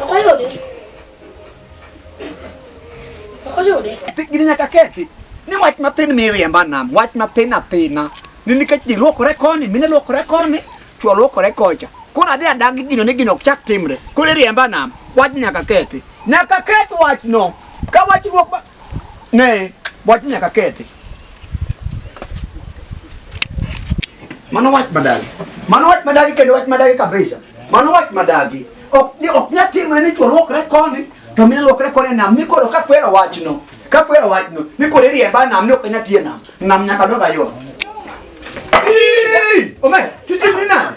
Makayode. Makayode. Gini nyaka kethi. Ni wach mathin miriemba nam, wach mathin athina. Ni nikech ji luokore koni, mine luokore koni, chwo luokore kocha. Koro adhi adagi gino ni gino ok chak timre. Koro iriemba nam, wach nyaka kethi. Nyaka keth wachno. Ka wach ruok Ne, wach nyaka kethi. Mano wach madagi. Mano wach madagi kendo wach madagi kabisa. Mano wach madagi. Ok ni ok nya timo ni chwo lokre koni to mine lokre koni nam ni koro ka kwero wachno. Ka kwero wachno ni koro iriemba nam ni ok nya tie nam. Nam nyaka doga yo. Ii! Omer, tuchimni nade?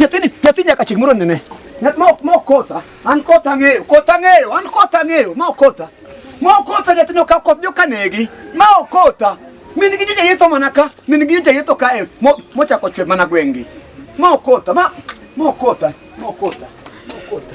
Nyathini, nyathi nyaka chik moro nene. Nyath ma ma okotha, an kotha ng'eyo, kotha ng'eyo, an kotha ng'eyo, ma okotha. Ma okotha nyathino ka koth joka negi, ma okotha. Min gi nyocha yetho mana ka, min gi nyocha yetho kae, mo- mochako chwe mana gwengi. Ma okotha, ma, ma okotha, ma okotha, ma okotha.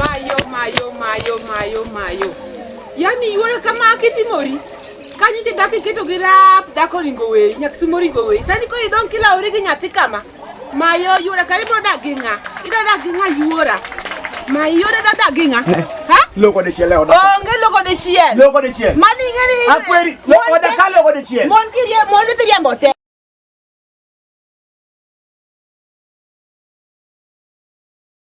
Mayo, mayo, mayo, mayo, mayo. Yaani yuore kama akitimori. Kanyo che daki keto gi rap dako ringo we, nyak sumo ringo we. Sani ko idong kila ori gi nyathi kama. Mayo yuore kari bro dak gi nga. Ida dak gi nga yuora. Mayo yuore da dak gi nga. Ha? Loko de chiel oda. Onge loko de chiel. Loko de chiel. Mani ngani. Akweri, loko oda ka loko de chiel. Mon kirie, mon dhi riembo te.